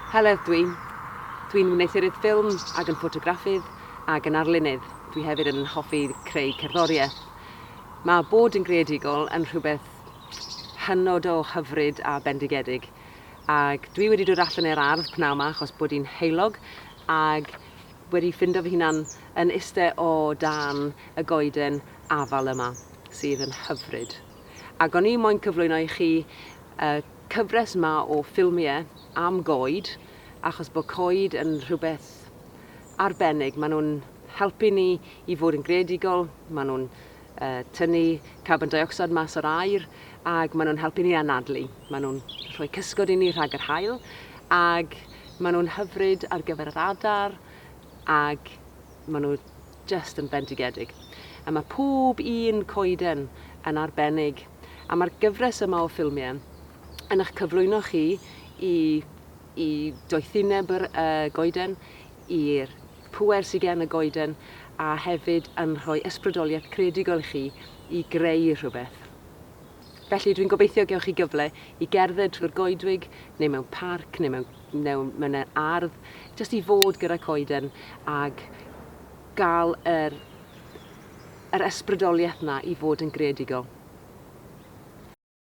Heledd dwi. Dwi'n wneuthuryd ffilm ac yn ffotograffydd ac yn arlunydd. Dwi hefyd yn hoffi creu cerddoriaeth. Mae bod yn greadigol yn rhywbeth hynod o hyfryd a bendigedig. Ac dwi wedi dod allan i'r ardd pnawn 'ma achos bod hi'n heulog ac wedi ffindo fy hunan yn iste o dan y goeden afal yma, sydd yn hyfryd. Ac o'n i moyn cyflwyno i chi y cyfres ma o ffilmie am goed, achos bod coed yn rhywbeth arbennig. Maen nhw'n helpu ni i fod yn greadigol, maen nhw'n tynnu carbon deuocsid mas o'r aer ac maen nhw'n helpu ni anadlu. Maen nhw'n rhoi cysgod i ni rhag yr haul ac maen nhw'n hyfryd ar gyfer yr adar ac maen nhw just yn bendigedig. A mae pob un coeden yn arbennig a mae'r gyfres yma o ffilmiau yn eich cyflwyno chi i, i doethineb yr uh, goeden, i'r pŵer sy gen y goeden a hefyd yn rhoi ysbrydoliaeth creadigol i chi i greu rhywbeth. Felly dwi'n gobeithio gewch chi gyfle i gerdded trwy'r goedwig neu mewn parc neu mewn, neu mewn yr ardd, jyst i fod gyda coeden ag gael yr, yr ysbrydoliaeth na i fod yn greadigol.